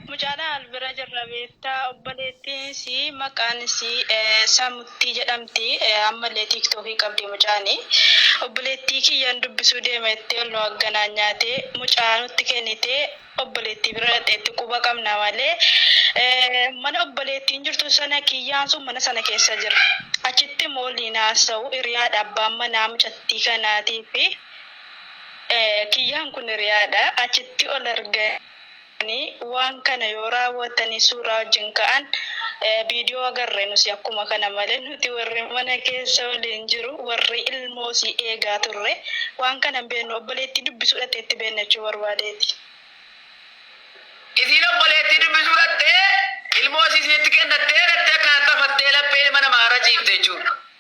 Mucaadha al bira jirra beektaa obboleettiin isii maqaan isii Samuttii jedhamti amma illee tiiktookii qabdi mucaani obboleettii kiyyan dubbisuu deema jettee ol nu agganaanyaatee mucaa nutti kennitee obboleettii bira dhaqxeetti quba qabna malee mana obboleettiin jirtu sana kiyyaan sun mana sana keessa jira achitti immoo waliin haasa'u hiriyaadha abbaan manaa mucattii kanaatii fi Kiyyaan kun hiriyaadha. Achitti ol arganii waan kana yoo raawwatanii suuraa wajjin ka'an viidiyoo agarre nusi akkuma kana malee nuti warri mana keessa waliin jiru warri ilmoosii eegaa turre waan kana hin beeknu obboleettii dubbisuu dhateetti beennachuu barbaadeeti. Isiin obboleettii dubbisuu dhattee ilmoosii isinitti kennattee dhattee akkanatti hafattee laphee ilma namaa irra ciifte jechuudha.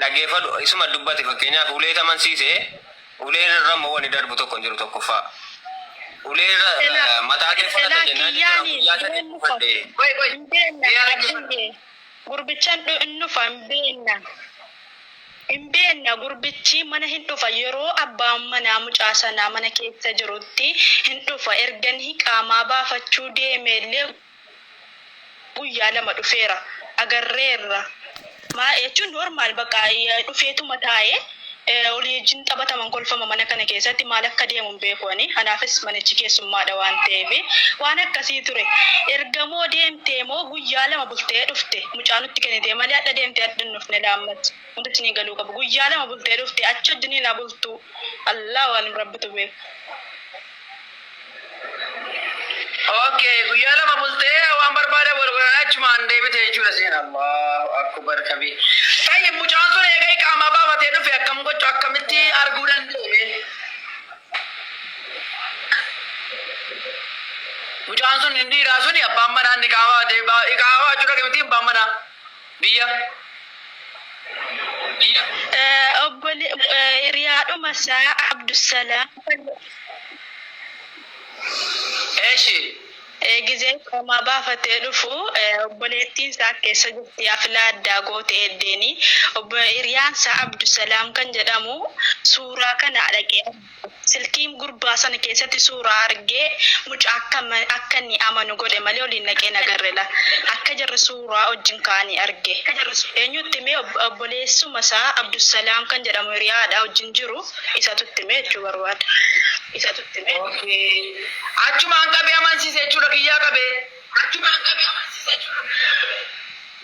Dhaggeeffadhu, isuma dubbate fakkeenyaaf uleetti amansiise, ulee irra immoo wanni darbu tokko hin jiru tokkoffaa. Ulee irra Silaa mataa kee fudhata silaa jennaan jechuudha kiyyaani guyyaa sadii hin nufa fudhadhe. Qoy qoy. hin beenna Mee haa dhaggeeffadhu. dhabiyyee gurbichan dhu hin nufa hin beenna hin beenna gurbichi mana hin dhufa yeroo abbaan manaa mucaa sanaa mana keessa jirutti hin dhufa erganii qaamaa baafachuu deemeellee guyyaa lama dhufeera agarreerra maa jechuun normaal bakka dhufeetuma taa'ee olii wajjin taphataman kolfama mana kana keessatti maal akka deemu hin beeku ani anaafis manichi keessummaadha waan ta'eef waan akkasii ture erga moo deemtee moo guyyaa lama bultee dhufte mucaa nutti kennitee malee hadha deemtee hadha hin dhufne laammat wanti isinii galuu qabu guyyaa lama bultee dhufte achi wajjiniin abultuu allaa waalim rabbitu beeku. ok guyyaa lama bultee waan barbaade wal godhanii achumaan deebite jechuudha seen allahu akbar kabi tayyib mucaan sun eega iqaamaa baafatee dhufe akkam gochu akkamitti arguu danda'e mucaan sun hin dhiiraa suni abbaan manaa inni iqaamaa baafatee iqaamaa baachuu dhaqe miti abbaan manaa Biyya Biyya. Obbole hiriyaadhuma isaa Abdusalaam fayyadama. Eshi. Gizee iqaamaa baafatee dhufu obboleettiin isaa akka eessa jirti hafilaa addaa goote eddeenii obbo hiriyaan isaa Abdusalaam kan jedhamu suuraa kana dhaqee. Silkiin gurbaa sana keessatti suuraa argee mucaa akka akka inni amanu godhe malee oliin naqee hin agarre la. Akka jarri suuraa wajjin ka'anii arge. Eenyu itti himee obboleessuma isaa Abdusalaam kan jedhamu hiriyaadha wajjin jiru isatu itti himee jechuu barbaada. Isatu itti himee. Okay. Achumaan qabee amansiise jechuudha kiyyaa qabee. Achumaan qabee amansiise jechuudha kiyyaa qabee.